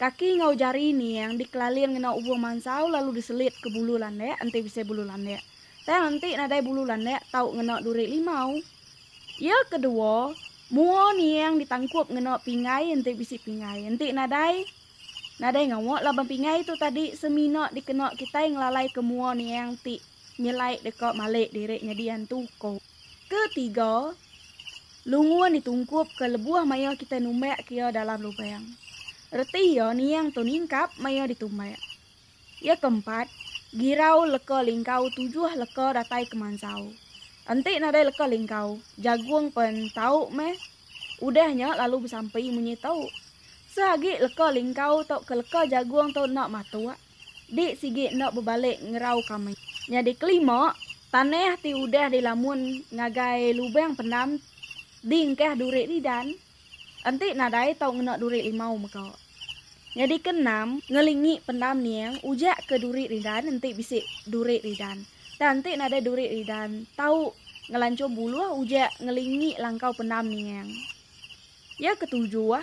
Kaki enggau jari Niang dikelalir ngena ubung mansau lalu diselit ke bulu landak enti bisi bulu landak. Tang enti nadai bulu landak tau ngena duri limau. Iya kedua, mua Niang ditangkup ngena pinggai enti bisi pinggai. Enti nadai, nadai ngawa laban pinggai tu tadi semina dikena kitai ngelalaika mua Niang ti nyelai deka malik diri nyadi antu, ku. Ketiga, lungun ditungkupka lebuh maya kitai numbak iya dalam lubang. Reti iya niang tu ningkap maya ditumbak. Iya keempat, girau leka lingkau tujuh leka datai ke mansau. Enti nadai leka lingkau, jagung pen tau meh. Udah nya lalu besampi munyi tu. Seagi leka lingkau tauka leka jagung tu enda matuk, Di sigi enda bebalik ngerau kami. Nyadi kelima, tanah ti udah dilamun ngagai lubang pendam di engkah duri Ridan enti nadai tau ngena duri limau mega. Nyadi keenam, ngelingi pendam niang ujak ke duri Ridan enti bisi duri Ridan. Tang enti nadai duri Ridan tau ngelanchur buluh ujak ngelingi langkau pendam niang. Ya ketujuh,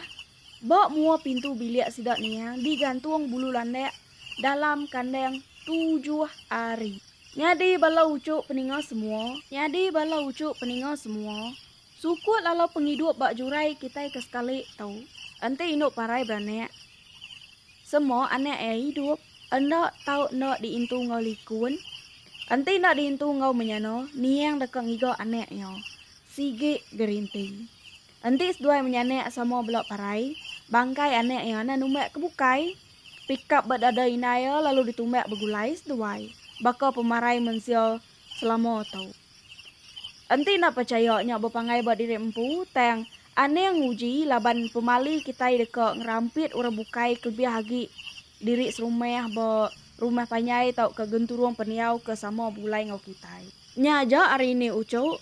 Ba mua pintu bilik sida nia digantung bulu landak dalam kandang tujuh ari. Nyadi bala uchup peninga semua. Nyadi bala uchup peninga semua. Sukut lalau pengidup ba jurai kitai ke sekali tu. Enti indu parai beranak. Sema anak iya idup enda tau enda diintu enggau likun. Enti enda diintu enggau menyana niang deka ngiga anak iya. Sigi gerinti. Enti seduai menyanak sama bela parai, bangkai anak iya enda numbak ke bukai. Pikap ba dada indai iya lalu ditumbak begulai seduai, baka pemarai mensia selama tu. Enti enda pechaya nya bepanggai ba diri empu, tang aning nguji laban pemali kitai deka ngerampit orang bukai kelebih agi diri serumah ba rumah panjai tauka genturung pendiau ke sama begulai enggau kitai. Nya aja ari indi uchu,